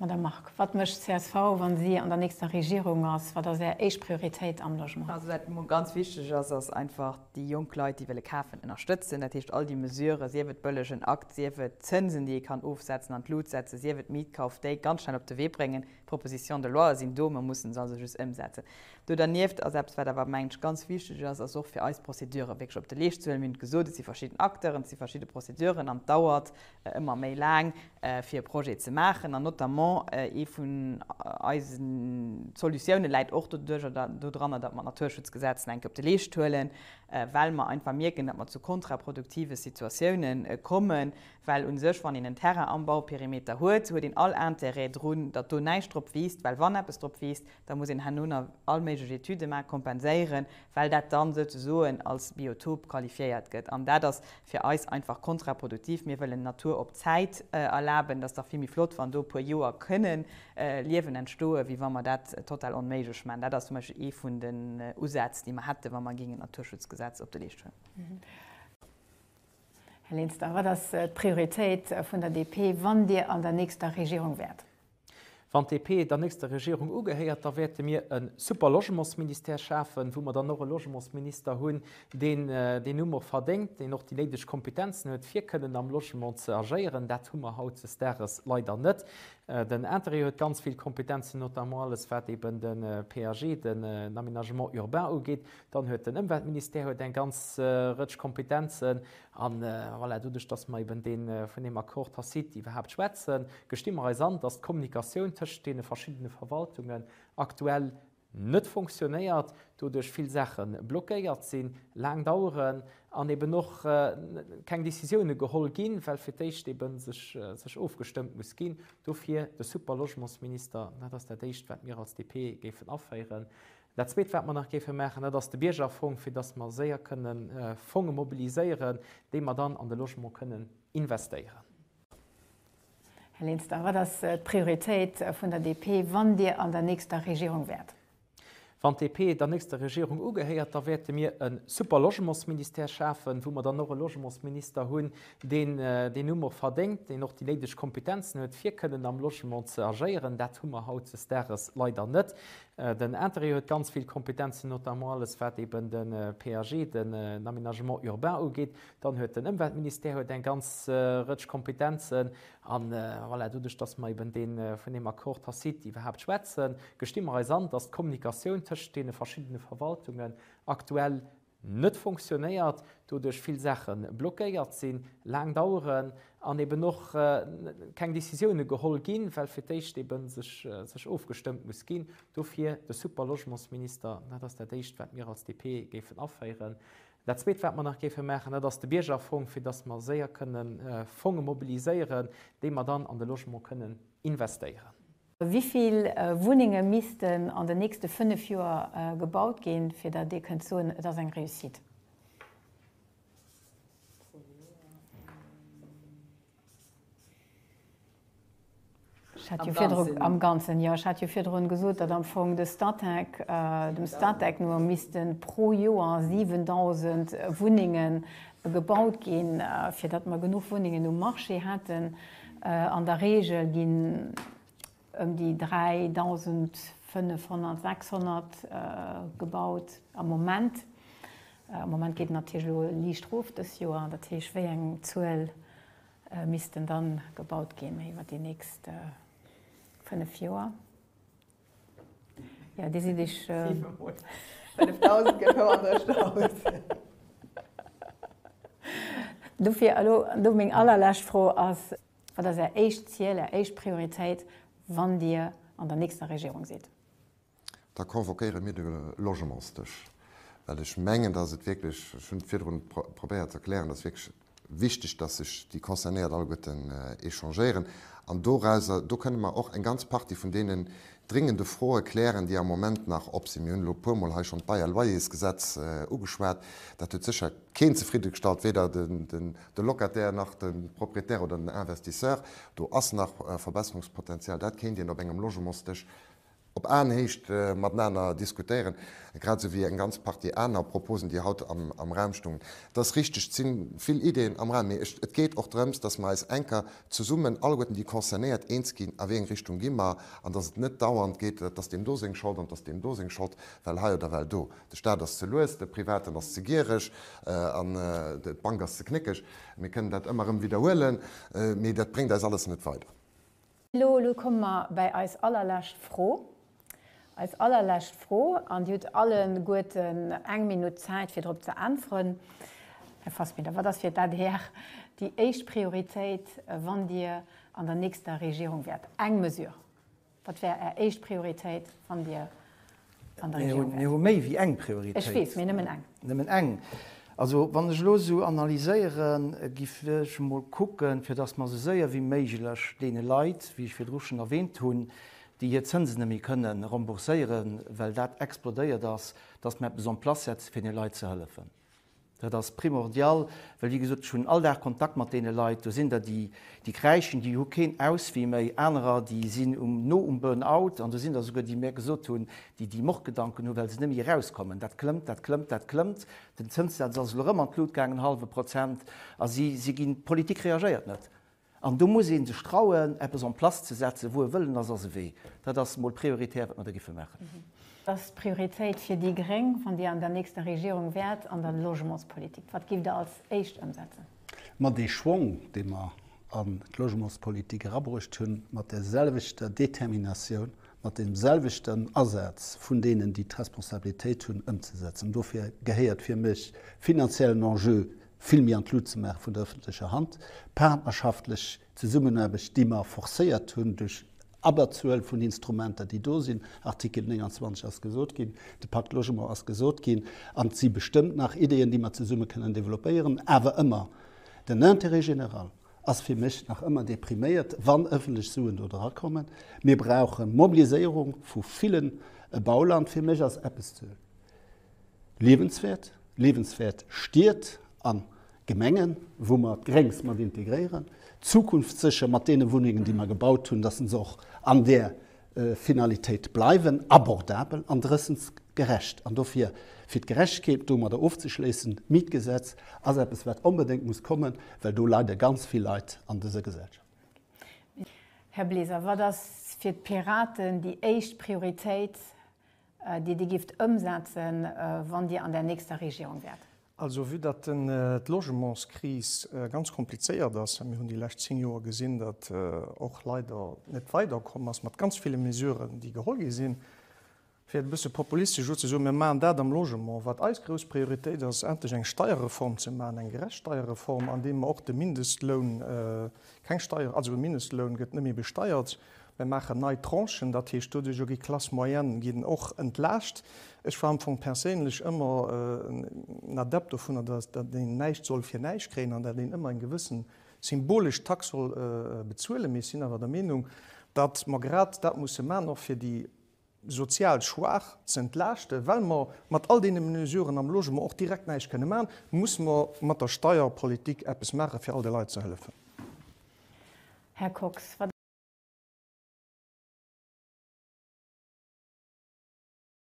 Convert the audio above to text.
Madame Margue, wat mécht d'CSV, wa si an der nächster Regierung ass? Wat ass Är éischt Prioritéit am Logement? Also wat mol ganz wichteg ass, ass einfach déi jonk Leit, déi wëlle kafen, ënnerstëtzen. Dat heescht, all déi Mesuren, sief et bëllegen Akt, sief et Zënsen, déi ee kann ofsetzen, an d'Lut setzen, sief et Mietkauf, déi ganz schnell op de Wee bréngen. D'Propositions de loi sinn do, mer mussen se also just ëmsetzen. Do dernieft, ass eppes wat awer mengen ech ganz wichteg ass, ass och fir eis d'Procéduren wierklech op de Leescht ze huelen. Mir hunn et gesot, et si verschidden Acteuren, et si verschidde Procéduren an et dauert ëmmer méi laang fir e Projet ze maachen. An notamment ee vun eise Solutiounen läit och dodranner, datt mer d'Naturschutzgesetz nach eng Kéier op de Leescht huelen, well mer einfach mierken, datt mer zu kontraproduktive Situatioune kommen, well u sech, wann een en Terrain am Bauperimeter huet, huet een all Intérêt drun, datt do näischt drop wiisst, well wann eppes drop wiisst, Da muss een herno nach all méiglech Etüde maachen, kompenséieren, well dat dann souzesoen als Biotop qualifiéiert gëtt. An dat ass fir eis einfach kontraproduktiv. Mir wëllen Natur op Zäit erlaben. Et ass dach vill méi flott, wann do e puer Joer kënnen Liewen entstoen, wéi wa mer dat total onméiglech maachen. Dat ass zum Beispill ee vun den Usätz, déi mer hätten, wa mer géingen d'Naturschutzgesetz op de Leescht huelen. Här Linster, wat ass d'Prioritéit vun der DP, wann Dir an der nächster Regierung wäert? Wann d'DP der nächster Regierung ugehéiert, da wäerte mir e super Logementsministère schafen, wou mer dann och e Logementsminister hunn, deen deen Numm och verdéngt, deen och déi néideg Kompetenzen huet, fir kënnen am Logement ze agéieren. Dat hu mer hautzestages leider net. Den Intérieur huet ganz vill Kompetenzen, notamment alles, wat eben de PAG, den Aménagement urbain, ugeet. Dann huet den Ëmweltministère huet eng ganz Rëtsch Kompetenzen. A voilà, doduerch, dass mer eben dee vun deem Accord tacite iwwerhaapt schwätzen, gesti mer eis an, dass d'Kommunikatioun tëschent deene verschiddene Verwaltungen aktuell net fonctionnéiert, doduerch vill Saache blockéiert sinn, laang daueren an eben och keng Décisiounen geholl ginn, well fir d'éischt eben sech ofgestëmmt muss ginn. Dofir de Superlogementsminister, dat ass dat Éischt, wat mir als DP géifen aféieren. Dat Zweet, wat mer nach géife maachen, dat ass de Biergerfong, fir dass mer séier kënnen Fonge mobiliséieren, déi mer dann an de Logement kënnen investéieren. Här Linster, wat ass d'Prioritéit vun der DP, wann Dir an der nächster Regierung wäert? Wann d'DP der nächster Regierung ugehéiert, da wäerte mir e super Logementsministère schafen, wou mer dann och e Logementsminister hunn, deen deen Numm och verdéngt, deen och déi néideg Kompetenzen huet, fir kënnen am Logement ze agéieren. Dat hu mer hautdesdages leider net. Den Interreg huet ganz vill Kompetenzen, notamment alles wat eben de PAG, den Aménagement urbain, ugeet. Dann huet den Ëmweltministère huet eng ganz Rëtsch Kompetenzen. A voilà, doduerch datt mer eben dee vun deem Accord tacite iwwerhaapt schwätzen, gesti mer eis an, datt d'Kommunikatioun tëschent deene verschiddene Verwaltungen aktuell, net fonctionnéiert, doduerch vill Saache blockéiert sinn, laang daueren an eben och keng Décisioune geholl ginn, well fir d'éischt ebe sech ofgestëmmt muss ginn. Dofir de Super-Logementsminister, dat ass dat Éischt, wat mir als DP géifen aféieren. Dat Zweet, wat mer nach géife maachen, dat ass de Biergerfong, fir datt mer séier kënnen Fonge mobiliséieren, déi mer dann an de Logement kënnen investéieren. Wéi vill Wunnenge missten an den nächste fënnef Joer gebaut ginn, fir datt Dir kënnt soen, et ass eng Réussite? Am Ganzen, jo. Ech hat jo virdrun gesot, datt am Fong de Statec, dem Statec no misste pro Joer 7.000 Wunnenge Gebaut ginn, fir datt mer genuch Wunnengen um Marché hätten. An der Reegel ginn ëm déi 3.500, 600 gebaut am Moment. Am Moment geet et natierlech elo liicht erof dës Joer. Dat heescht, wéi eng Zuel missten da gebaut ginn iwwer déi nächst fënnef Joer? Ja, déi sinn ech. Siwe mol 5000 gëtt hou an der Stad. Dofir elo do meng allerlescht Fro ass. Wat ass Är éischt Ziel, Är éischt Prioritéit, wann Dir an der nächster Regierung sidd? Da convoquéiere mir de Logementsdësch, well ech mengen, dass et wierklech, ech hunn et virdrun probéiert ze erklären, dass wierklech wichteg, dass sech déi Concernéiert alleguerten échangéieren. An dorauser, do kënnen mer och eng ganz Partie vun deenen dringende Froe klären, déi am Moment nach op sinn. Mir hunn elo e puermol hei schonn d'Bail-loyersgesetz ugeschwat. Dat huet sécher keen zefriddegestallt, weder de Locataire nach de Proprietär oder den Investisseur. Do ass nach Verbesserungspotenzial. Dat kéint een op engem Logementsdësch Op Aenhéicht matenaner diskutéieren, grad esou wéi eng ganz Partie aner Proposen, déi haut am Raum stungen. Et ass richteg, et si vill Ideeën am Raum, mee et geet och drëms, dass mer eis enker zesummen, alleguerten déi Concernéiert, eens ginn, a wéi eng Richtung gi mer, an dass et net dauernd geet, et ass deem do seng Schold an et ass deem do seng Schold, well hei oder well do, de Stat ass ze lues, de Privaten ass ze giereg an d'Bank ass ze knéckeg. Mir kënnen dat ëmmer erëm widderhuelen, mee dat bréngt eis alles net weider. Elo, elo komme mer bäi eis allerlescht Fro. Eis allerlescht Fro, an Dir hutt alleguerten eng Minutt Zäit, fir drop ze äntweren. Här Fassbinder, wat ass fir d'ADR déi éischt Prioritéit, wann Dir an der nächster Regierung wäert? Eng Mesure, wat wär Är éischt Prioritéit, wann Dir an der Regierung wäert. Mir hu méi wéi eng Prioritéit. Ech weess, mee nëmmen eng. Nëmmen eng. Also wann ech elo esou analyséieren, gi ech emol kucken, fir datt mer esou séier wéi méiglech deene Leit, wéi ech virdru schonn erwähnt hunn, déi hir Zënsen net méi kënne rembourséieren, well dat explodéiert ass, datt mer eppes en place setzen, fir deene Leit ze hëllefen. Dat ass primordial, well wéi gesot, ech hunn all Dag Kontakt mat deene Leit. Do sinn der, déi déi kräischen, déi hu keen Auswee méi. Anerer, déi sinn um no um Burnout. An do sinn der esouguer, déi mir gesot hunn, déi déi Mordgedanken hu well se net méi erauskommen. Dat klëmmt, dat klëmmt, dat klëmmt. Den Zënssaz ass elo erëm an d'Lut gaangen, hallwe Prozent. A si si ginn, d'Politik reagéiert net. An do muss ee sech trauen, eppes en place ze setzen, wou e Wëllen ass, ass e Wee. Dat ass emol prioritär, wat mer do géife maachen. Ass d'Prioritéit fir déi gréng, wann Dir an der nächster Regierung wäert, an der Logementspolitik? Wat giff Der als éischt ëmsetzen? Ma dee Schwong, dee mer an d'Logementspolitik erabruucht hunn, mat där selwechter Determinatioun, mat deem selwechten Asaz vun deenen, déi d'Responsabilitéit hunn, ëmzesetzen, dofir gehéiert fir mech finanziellen Enjeu vill méi an d'Lut ze maachen vun der ëffentlecher Hand, d'partnerschaftlech Zesummenaarbecht, déi mer forcéiert hunn duerch Abberzuel vun Instrumenter, déi do sinn, Artikel 29 ass gesot ginn, de Pacte Logement ass gesot ginn, an et si bestëmmt nach Ideeën, déi mer zesumme kënnen développéieren, awer ëmmer, den Intérêt général ass fir mech nach ëmmer dee priméiert, wann ëffentlech Suen do drakommen. Mir brauche Mobiliséierung vu villen e Bauland. Fir mech ass eppes ze. Liewenswäert, liewenswäert Stied a Gemengen, wou mer d'Gréngs mat integréieren, zukunftssécher mat deene Wunnengen, déi mer gebaut hunn, dass se och an där Finalitéit bleiwen, abordabel an drëssensgerecht. An dofir, fir d'Gerechtegkeet domadder ofzeschléissen, d'Mietgesetz ass eppes, wat onbedéngt muss kommen, well do leide ganz vill Leit an dëser Gesellschaft. Här Bleser, wat ass fir d'Piraten déi éischt Prioritéit déi Dir gifft ëmsetzen, wann Dir an der nächster Regierung wäert? Also, vue datt d'Logementskris ganz komplizéiert ass, a mir hunn déi lescht zéng Joer gesinn, datt och leider net weider komm ass mat ganz ville Mesuren, déi geholl gi sinn, fir et e bësse populistesch elo ze soen, mir maachen dat am Logement, wat eis grouss Prioritéit ass, endlech eng Steierreform ze maachen, eng gerecht Steierreform, andeem mer och de Mindestloun, keng Steier, also e Mindestloun gëtt net méi besteiert. Mir maachen nei Tranchen, dat heescht doduerch och gi Classes moyennes ginn och entlaascht. Ech war am Fong perséinlech ëmmer en Adept dovunner, datt een näischt soll fir näischt kréien an datt een ëmmer eng gewësse symbolesch Tax soll bezuelen. Mee ech sinn awer der Meenung, datt mer grad dat musse maachen och fir déi sozial schwaach ze entlaaschten, well mer mat all deene Mesuren am Logement och direkt näischt kënne maachen, musse mer mat der Steierpolitik eppes maachen, fir all de Leit ze hëllefen. Här Kox.